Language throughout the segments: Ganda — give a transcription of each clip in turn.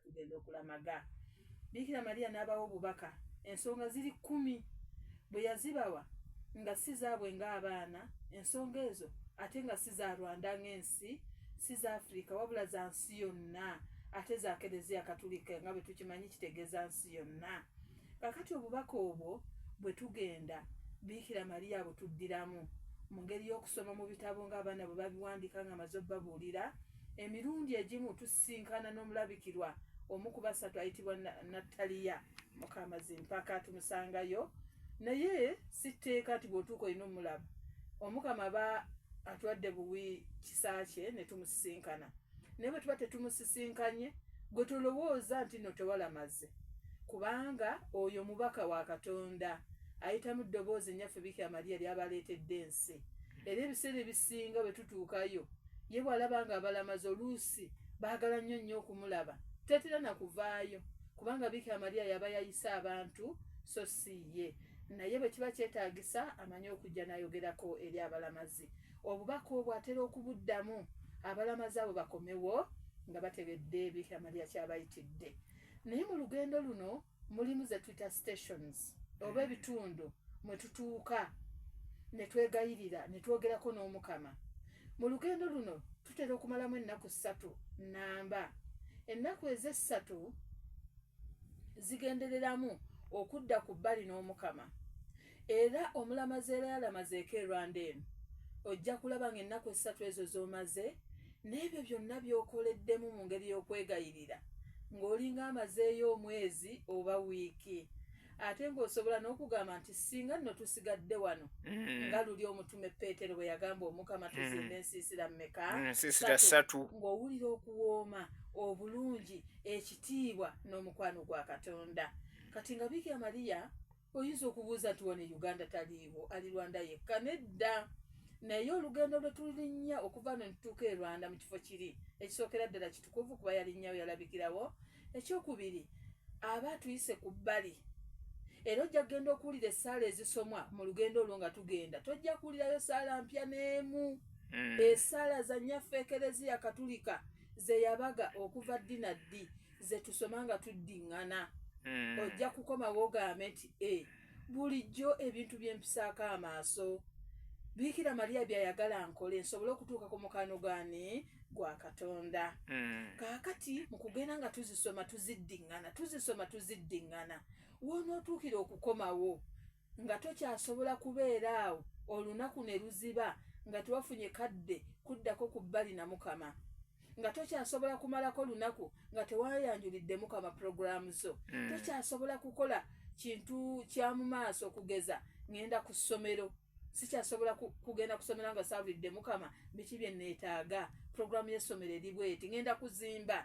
tugenda okulamaga bikira mariya n'abawa obubaka ensonga ziri kkumi bwe yazibawa nga si zaabwe ng'abaana ensonga ezo ate nga si za rwanda ng'ensi si za afirika wabula za nsi yonna ate za kereziya katulika nga bwe tukimanyi kitegeeza nsi yonna Kakati obubaka obwo bwe tugenda, Biikira Maria abutuddiramu, mu ngeri y'okusoma mu bitabo nga abaana bwe babiwandiika nga amaze obubabuulira. Emirundi egimu tusisinkana n'omulabikirwa omu ku basatu ayitibwa Nattaliya Mukamazimpaka, tumusangayo. Naye si tteeka nti bw'otuuka olina omulaba. Omukama aba atuwadde buwi kisa kye ne tumusisinkana. naye bwe tuba tetumusisinkanye gwe tolowooza nti no tewalamaze kubanga oyo mubaka wa katonda ayitamu ddoboozi nyaffe biki amaliya lyabaleetedde ensi era ebiseera ebisinga bwe tutuukayo ye bwalaba nga abalamazi oluusi baagala nnyo nnyo okumulaba tetera na kuvaayo kubanga biki amaliya yaba yayise abantu so si ye naye bwe kiba kyetaagisa amanyi okujja n'ayogerako eri abalamazi Obubaka obwo atera okubuddamu abalamazi abo bakomewo nga bategedde ebikama lya kyabayitidde. Naye mu lugendo luno mulimu ze twitter stations oba eh. ebitundu mwe tutuuka ne twegayirira ne twogerako n'omukama. Mu lugendo luno tutera okumalamu ennaku ssatu nnamba. Ennaku ez'essatu zigendereramu okudda ku bbali n'omukama. era omulamazi era yalamazeeko e rwanda eno ojja kulaba nga ennaku essatu ezo z'omaze n'ebyo byonna by'okoleddemu mu ngeri y'okwegayirira ng'olinga amazeeyo omwezi oba wiiki ate ng'osobola n'okugamba nti singa nno tusigadde wano mm. nga luli omutume peetero bwe yagamba omukama mm. tuzimba ensiisira mmeka mm, satu ng'owulira okuwooma obulungi ekitiibwa n'omukwano gwa katonda kati nga biga mariya oyinza okubuuza nti wano e uganda taliiwo ali rwanda yekka nedda naye olugendo lwe tulinnya okuva no nitutuuka e rwanda mu kifo kiri ekisookera ddala kitukuvu kuba yalinnyawo yalabikirawo ekyokubiri aba atuyise ku bbali era ojja kugenda okuwulira essaala ezisomwa mu lugendo olwo nga tugenda tojja kuwulirayo saala mpya n'emu hmm. esaala za nyaffe ekereziya katulika zeyabaga okuva ddi na ddi ze tusoma nga tuddiŋŋana hmm. ojja kukomawo ogambe nti e bulijjo ebintu bye mpisaako amaaso biikira maliya byayagala nkole nsobole okutuuka ku mukano gani gwa katonda hmm. kaakati mu kugenda nga tuzisoma tuziddiŋŋana tuzisoma tuziddiŋŋana wonootuukira okukomawo nga tokyasobola kubeera awo olunaku ne luziba nga tewafunye kadde kuddako ku bbali na mukama nga tokyasobola kumalako lunaku nga tewayanjulidde mukama pulogulaamu zo mm. tokyasobola kukola kintu kya mu maaso okugeza ŋenda ku ssomero sikyasobola kugenda kusomero nga saabulidde mukama biki bye neetaaga pulogulaamu y'essomero eri bweti ŋenda kuzimba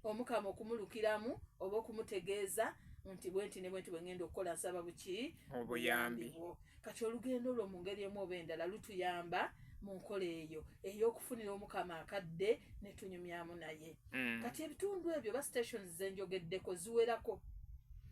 omukama okumulukiramu oba okumutegeeza nti bwenti ne bwenti bwe ŋŋenda okukola nsaba buki obuyambi bwo kati olugendo lwo mu ngeri emu oba endala lutuyamba mu nkola eyo ey'okufunira omukama akadde ne tunyumyamu naye mm. kati ebitundu ebyo ba stations ze njogeddeko ziwerako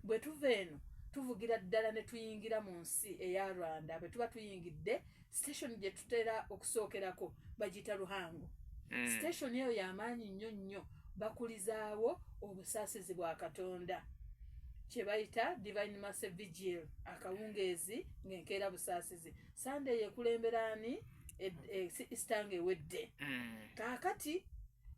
bwe tuva eno tuvugira ddala ne tuyingira mu nsi eya rwanda bwe tuba tuyingidde station gye tutera okusookerako bagiyita luhango mm. station eyo yamaanyi nnyo nnyo bakulizaawo obusaasizi bwa katonda kye bayita divine masse vigil akawungeezi ng'enkeera busaasizi sande yekulemberaani e, e, isitanga ewedde mm. kaakati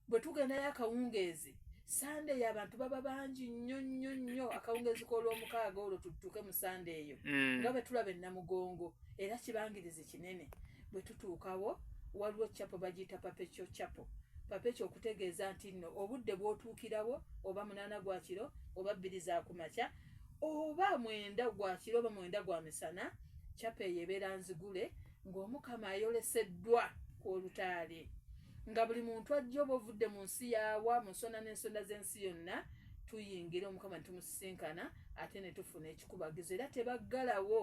bwe tugendayo akawungeezi sande eyo abantu baba bangi nnyo nnyo nnyo akawungeezi k'olwomukaaga olwo tuttuke mu sande eyo mm. nga bwe tulaba ennamugongo era kibangirizi kinene bwe tutuukawo waliwo capo bagiyita papekyo capo papekyo okutegeeza nti nno obudde bw'otuukirawo oba munaana gwa kiro oba bbiri za ku makya oba mwenda gwa kiro oba mwenda gwa misana capo eyo ebeera nzigule ng'omukama ayoleseddwa ku olutaali nga buli muntu ajja oba ovudde mu nsi yaawa mu nsonda n'ensonda z'ensi yonna tuyingira omukama netumusisinkana ate netufuna ekikubagizo era tebaggalawo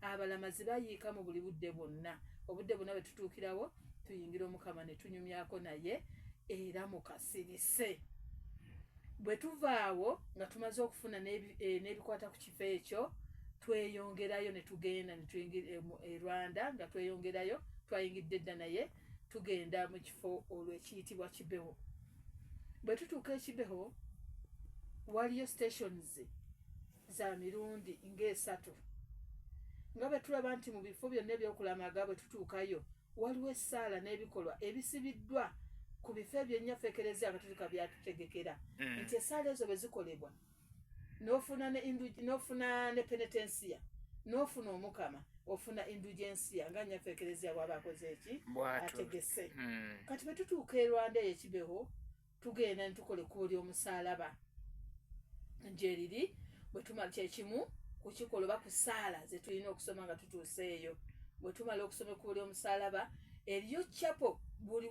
abalamazi bayiika mu buli budde bwonna obudde bwonna bwe tutuukirawo tuyingira omukama netunyumyako naye era mukasirise bwe tuvaawo nga tumaze okufuna eh, n'ebikwata ku ekifo ekyo tweyongerayo ne tugenda ne tuyingira e, e Rwanda nga tweyongerayo twayingidde dda naye tugenda mu kifo olwo ekiyitibwa Kibeho bwe tutuuka ekibeho waliyo stations za mirundi ng'esatu nga bwe tulaba nti mu bifo byonna ebyokulamaga bwe tutuukayo waliwo essaala n'ebikolwa ebisibiddwa ku bifo ebyennyafekerezya nga tutuka byatutegekera hmm. nti essaala ezo bwe zikolebwa nofuna nofuna ne penetensia nofuna omukama ofuna indugensia nga nyaffe ekereziya bwaba akoze eki ategese hmm. kati bwetutuuka erwanda eyo ekibeho tugenda netukola ekkubo lyomusalaba njeriri bwetumala kyekimu kukikola oba kusaala zetulina okusoma nga tutuuse eyo bwetumala okusoma ekkubo lyomusalaba eriyo chapo buli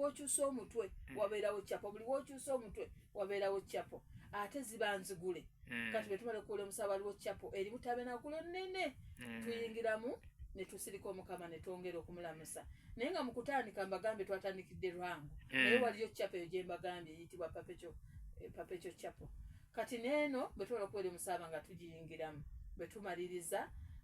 wokyusa omutwe hmm. wabeerawo chapo buli wokyusa omutwe wabeerawo chapo ate ziba nzigule mm. kati bwetubale kuula omusaba waliwo chapo eri butabenagulo nene mm. tuyingiramu netusirika omukama netwongera okumulamusa naye nga mukutandika mbagambye twatandikidde lwangu mm. naye waliyo chapo eyo gyembagambye eyitibwa papeco eh, papeco chapo kati neeno bwetubala okuwera omusaba nga tugiyingiramu bwetumaliriza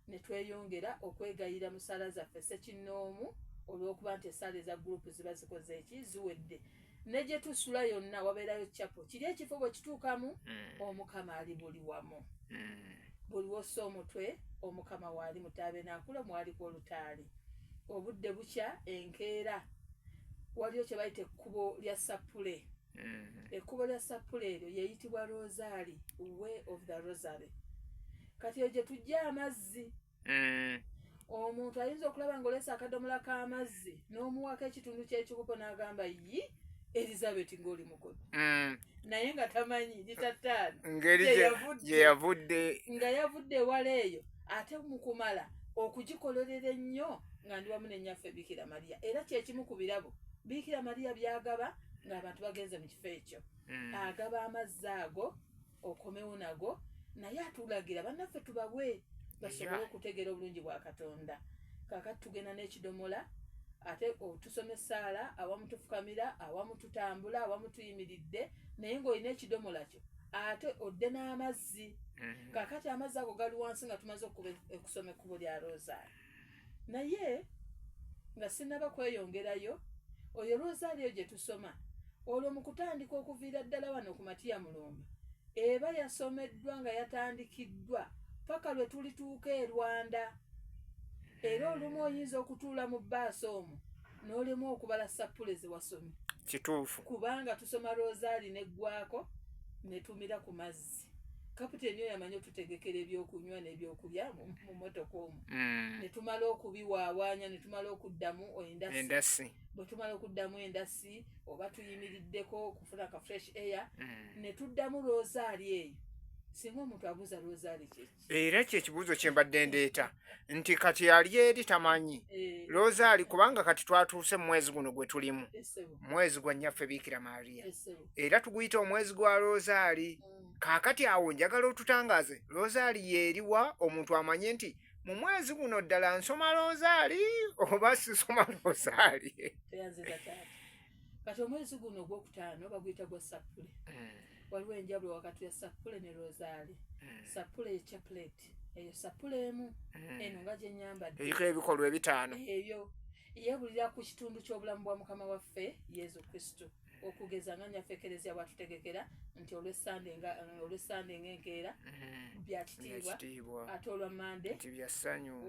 netweyongera okwegayira musala zaffe sekinnoomu olwokuba nti esaala eza gurupu ziba zikoze eki ziwedde ne gye tusula yonna wabeerayo capo kiri ekifo bwe kituukamu mm. omukama ali buli wamu mm. buli wossa omutwe omukama waali mutaabe naakula mwaliko olutaali obudde bukya enkeera waliyo kye bayita ekkubo lya sappule mm. ekkubo lya sappule eryo yeeyitibwa rosaali way of the rosary kati eyo gye tujja amazzi mm. omuntu ayinza okulaba nga olesa akadomola k'amazzi n'omuwako ekitundu ky'ekikopo n'agamba yi elizabeth ng'oli mukulu mm. naye nga tamanyi lita ttaano gye yavudde nga yavudde ewala eyo ate mu kumala okugikolerera ennyo nga ndi wamu nenyaffe biikira mariya era kyekimu ku birabo biikira mariya byagaba ng'abantu bagenze mu kifo ekyo mm. agaba amazzi ago okomewo nago naye atulagira bannaffe tubawe basobole okutegeera obulungi bwa katonda kakati tugenda n'ekidomola ate otusoma essaala awamu tufukamira awamu tutambula awamu tuyimiridde naye ng'olina ekidomola kyo ate odde n'amazzi mm-hmm. kakati amazzi ago gali wansi nga tumaze okusoma ekkubo lya rosaari naye nga sinaba kweyongerayo oyo rosario gye tusoma olwo mu kutandika okuviira ddala wano ku matiya mulumba eba yasomeddwa nga yatandikiddwa paka lwe tulituuka e rwanda era olumu oyinza okutuula mu baasi omu n'olemu okubala sappule ze wasomye kituufu kubanga tusoma rosaali neggwako netumira ku mazzi kaputeni oyo amanyi otutegekera ebyokunywa nebyokulya mumotoka omu mm. netumala okubiwaawanya netumala okuddamu endasi bwetumala okuddamu endasi oba tuyimiriddeko okufuna ka fresh air mm. netuddamu rosaali eyo singa omuntu abuuza rosaali kyeki era ekyo ekibuuzo kye mbadde ndeeta nti kati ali eri tamanyi eh. looza ali kubanga kati twatuuse mu mwezi guno gwe tulimu eh, mwezi gwa nnyaffe biikira maria eh, era tuguyita omwezi gwa looza ali mm. kaakati awo njagala otutangaaze looza ali yeeriwa omuntu amanye nti mu mwezi guno ddala nsoma looza ali oba sisoma looza ali kati omwezi guno ogwokutaano baguyita gwa sappule eh. waliwo enjawulo wakati ya sappule ne rosaali eh. sappule ye chapuleti eyo sappule emu eh. eno nga gyenyambadde eriko ebikolwa ebitaano ebyo yeebulira ku kitundu ky'obulamu bwa mukama waffe yesu kristo okugeza nga nyaffe ekereziya bwatutegekera nti olwesande nga enkeera mm-hmm. byakitiibwa ate olwa mande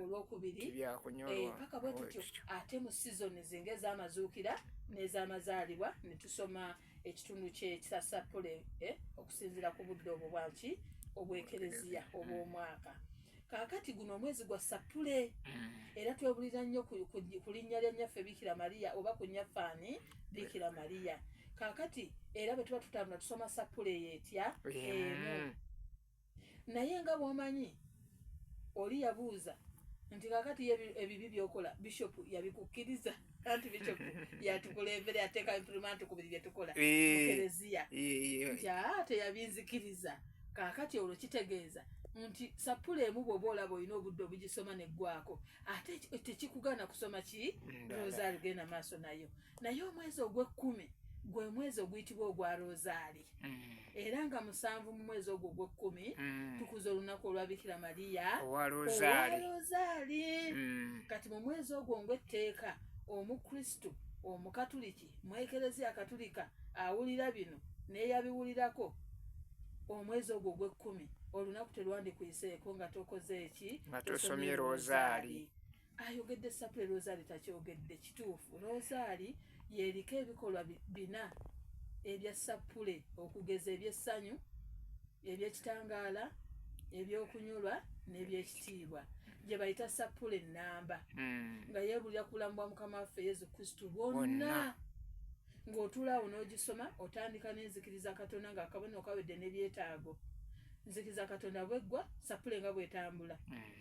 olwokubiri eh, paka bwetutyo ate mu sizoni emboozi ng'ez'amazuukira n'ez'amazaalibwa ne tusoma ekitundu ky'ekisasappule eh, okusinziira ku budde obwo bwaki obwekereziya obw'omwaka kaakati guno omwezi gwa sappule mm. era twebulira nnyo ku linnya lya nnyaffe biikira mariya oba ku nnyaffe ani biikira mariya kaakati era bwe tuba tutambula tusoma sappule eyo etya emu naye nga bwomanyi oli yabuuza nti kakati ebibi byokola bishop yabikukkiriza anti bishop yatukulembere ateeka imprimanti ku buli byetukola mukereziya nti aa teyabinzikiriza kakati olwo kitegeeza nti sapula emu bwoba olaba olina obudde obugisoma neggwako ate tekikugana kusoma ki rosaali genda maaso nayo naye omwezi ogw'ekkumi gwe mwezi oguyitibwa ogwa rosaali mm. era nga musanvu mu mwezi ogwo ogw'ekkumi mm. tukuza olunaku olwabikira mariya owa rosaali mm. kati mu mwezi ogwo ngw'etteeka omukristu omukatuliki mwekereziya katulika awulira bino neyabiwulirako omwezi ogwo ogw'ekkumi olunaku terwandikuyiseeko nga tokoze eki nga tosomye rosaali ayogedde sapule rosaali takyogedde kituufu rosaali yeriko ebikolwa bina ebya sapule okugeza ebyessanyu ebyekitangaala ebyokunyolwa nebyekitiibwa gyebayita sapule enamba hmm. nga yebulira kulambwa mukama waffe yesu kristu bwonna ng'otulaawo n'ogisoma otandika n'enzikiriza katonda nga akabona okawedde nebyetaago nzikiriza katonda bweggwa sapule nga bwetambula hmm.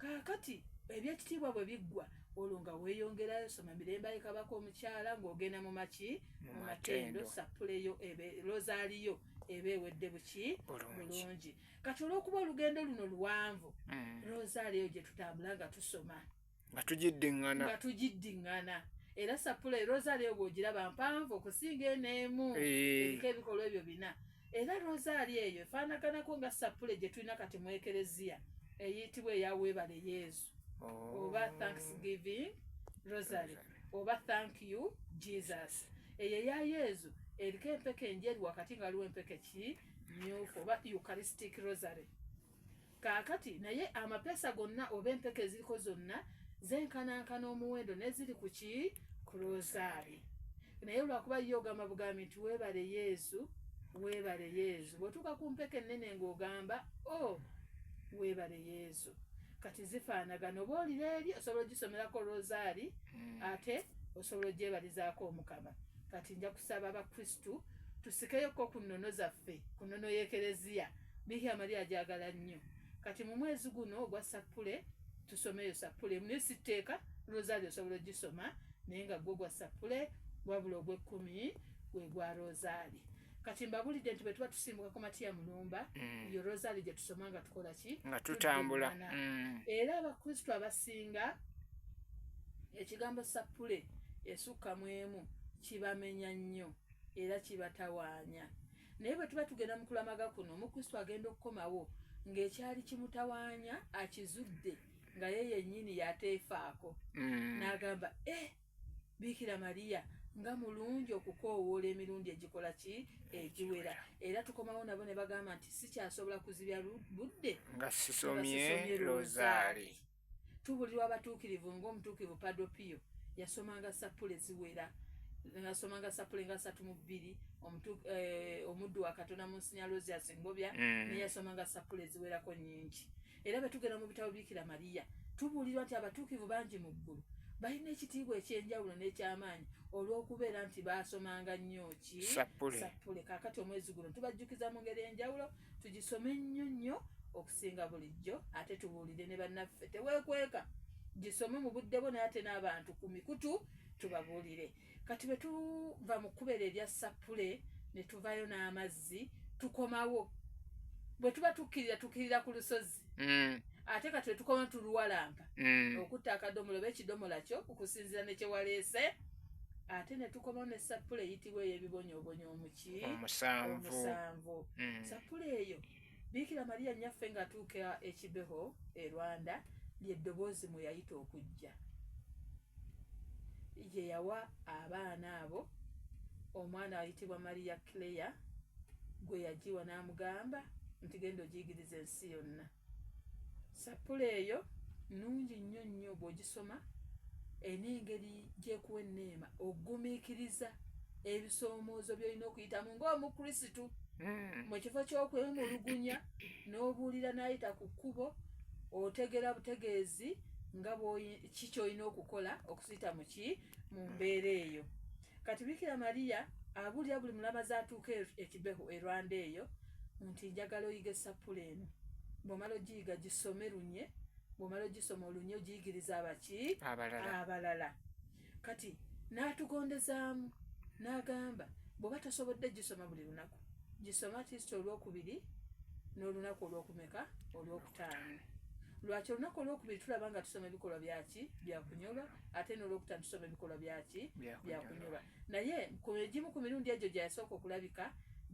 kaakati ebyekitiibwa bwe biggwa olwo nga weeyongerayo soma mirembe ayekabako omukyala ng'ogenda mu maki mu matendo sappuleyo lozaaliyo eba ewedde buki bulungi kati olw'okuba olugendo luno luwanvu mm. lozaaliyo gye tutambula nga tusoma nga tugiddiŋŋana nga tugiddiŋŋana era sappuleyo lozaaliyo bw'ogiraba mpanvu okusinga eneemu eh. eriko ebikolwa ebyo bina Era rozaali eyo efaanaganako nga sappule gye tulina kati mu ekereziya eyitibwa eya weebale yezu oh. oba thanksgiving rosary oba thank you jesus eyo eya yezu eriko empeke enjeru wakati nga waliwo empeke ki myufu oba eucharistic rosary kaakati naye amapeesa gonna oba empeke eziriko zonna zenkanankana omuwendo neziri ku ki ku rosaari naye olwakuba ye ogamba bugambi nti weebale yesu weebale yesu bwotuuka ku mpeke ennene ng'ogamba o oh, weebale yesu kati zifaanagana oba olira eri osobola ogisomerako rosaari hmm. ate osobola ogyebalizaako omukama kati nja kusaba abakristu tusikeyoko ku nnono zaffe ku nnono y'ekereziya Bikira Maria agyagala nnyo. Kati mu mwezi guno ogwa sappule tusomeyo sappule emu naye si tteeka rosario osobola ogisoma naye nga gwo gwa sappule wabula ogw'ekkumi gwe gwa rosaali kati mbabulidde nti bwe tuba tusimbuka ku matiya mulumba mm. yo rosaali gye tusoma nga tukola ki nga tutambula mm. era abakristu abasinga ekigambo sappule esukka mu emu kibamenya nnyo era kibatawaanya naye bwe tuba tugenda mu kulamaga kuno omukristo agenda okukomawo ng'ekyali kimutawaanya akizudde nga ye yennyini yateefaako mm. n'agamba e biikira mariya nga mulungi okukoowoola emirundi egikola ki egiwera era tukomawo nabo ne bagamba nti sikyasobola kuzibya budde nga sisomye rosaali tubulirwa abatuukirivu ng'omutuukirivu padopiyo yasomanga sappule ziwera nasomanga sappule nga satu mu bbiri eh, omuddu wa katonda mu nsinya rosias ngobya mm. naye yasomanga sappule ziwerako nyingi era betugenda mu bitabo bikira mariya tubuulirwa nti abatuukivu bangi mu ggulu balina ekitiibwa ekyenjawulo n'ekyamaanyi olw'okubeera nti baasomanga nnyo ki sappule kakati omwezi guno tubajjukiza mu ngeri enjawulo tugisome nnyo nnyo singa bulijjo ate tubuulire ne bannaffe teweekweka gisome mu budde bwo naye ate n'abantu ku mikutu tubabuulire kati bwe tuva mu kubeera ebya sappule ne tuvayo n'amazzi tukomawo bwe tuba tukkirira tukkirira ku lusozi mm. ate kati bwe tukoma tuluwalampa mm. okutta akadomola oba ekidomola kyo okusinzira ne kye waleese ate ne tukomawo ne sappule eyitibwa ey'ebibonyoobonyo omuki omusanvu mm. sappule eyo Biikira Maria nnyaffe ng'atuuka e Kibeho e Rwanda ly'eddoboozi mwe yayita okujja gye yawa abaana abo omwana ayitibwa Maria Claire gwe yagiwa n'amugamba nti genda ogiyigiriza ensi yonna Sappula eyo nnungi nnyo nnyo bw'ogisoma erina engeri gy'ekuwa enneema okugumiikiriza ebisoomoozo by'olina okuyitamu ng'omukrisitu hmm. mu kifo ky'okwemulugunya n'obuulira n'ayita ku kkubo otegera butegeezi nga kiki olina okukola okusita muki mu mbeera eyo Kati Bikira Maria abulira buli mulamazi atuuka e, e Kibeho e Rwanda eyo nti njagala oyige esappula eno. Bw'omala ogiyiga gisome lunye, bw'omala ogisoma olunye ogiyigiriza abaki abalala. Kati n'atugondezaamu n'agamba bw'oba tosobodde gisoma buli lunaku gisoma at least olwokubiri n'olunaku olwokumeka olwoku taano lwaki olunaku olwokubiri tulaba nga tusoma ebikolwa byaki byakunyolwa ate nolwokutano tusoma ebikolwa byaki byakunyolwa naye egimu ku mirundi egyo gyeyasooka okulabika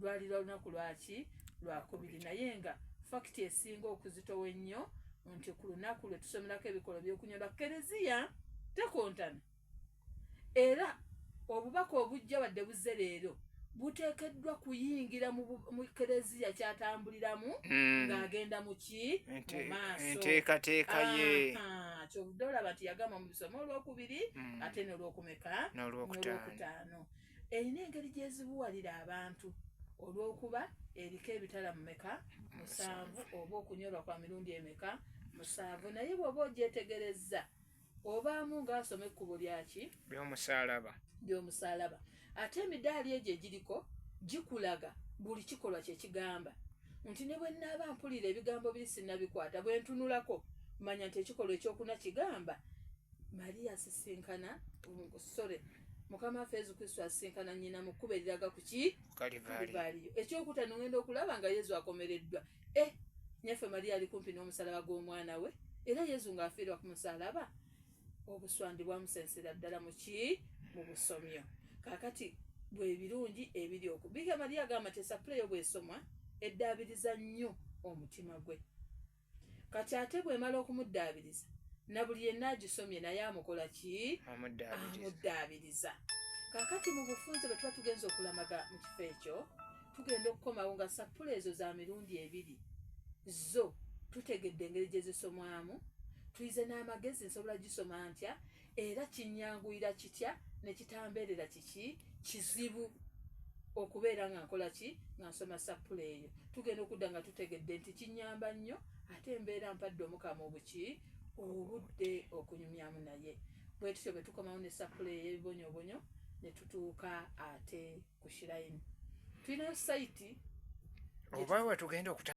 lwali lwa lunaku lwaki lwakubiri naye nga fakiti esinga okuzitowa ennyo nti ku lunaku lwe tusomerako ebikolwa byokunyolwa kereziya tekontana era obubaka obujja wadde buzze leero buteekeddwa kuyingira mu kereziya kyatambuliramu mm. ng'agenda muki mu maaso enteekateeka ye kyovudde olaba nti yagamba mu bisoma olwokubiri mm. ate nolwokumeka nolwokutaano erina engeri gyezibuwalira abantu olwokuba eriko ebitala mumeka musanvu oba okunyolwa kwa mirundi emeka musanvu naye bwoba ogyetegerezza obaamu ng'asoma ekkubo lyaki lyomusaalaba lyomusaalaba ate emidaali egyo egiriko gikulaga buli kikolwa kye kigamba nti ne bwe nnaaba mpulira ebigambo biri sinnabikwata bwe ntunulako manya nti ekikolwa ekyokuna kigamba mariya asisinkana sore mukama waffe yesu kristo asisinkana nnyina mu kkubo eriraga ku ki kalivaliyo ekyokutano ngenda okulaba nga yesu akomereddwa eh nyaffe maria ali kumpi n'omusalaba gw'omwana we era yezu ng'afiirwa ku musalaba obuswandi bwamusensera ddala muki mu busomyo kakati bwebirungi ebiri oku bika maria agamba nti esapuleyo bwesomwa eddaabiriza nnyo omutima gwe kati ate bwemala okumuddaabiriza na buli yenna agisomye naye amukola ki amuddaabiriza kakati mu bufunze bwe tuba tugenza okulamaga mu kifo ekyo tugenda okukomawo nga sappula ezo za mirundi ebiri zo tutegedde engeri gye zisomwamu tuyize n'amagezi nsobola gisoma ntya era kinyanguyira kitya ne kitambeerera kiki kizibu okubeera nga nkola ki nga nsoma sappula eyo tugenda okudda nga tutegedde nti kinyamba nnyo ate embeera mpadde omukama obuki obudde okunyumyamu naye bwe tutyo bwe tukomawo ne sappula ey'ebibonyobonyo ne tutuuka ate ku shirayini tulinayo sayiti oba wetugenda okuta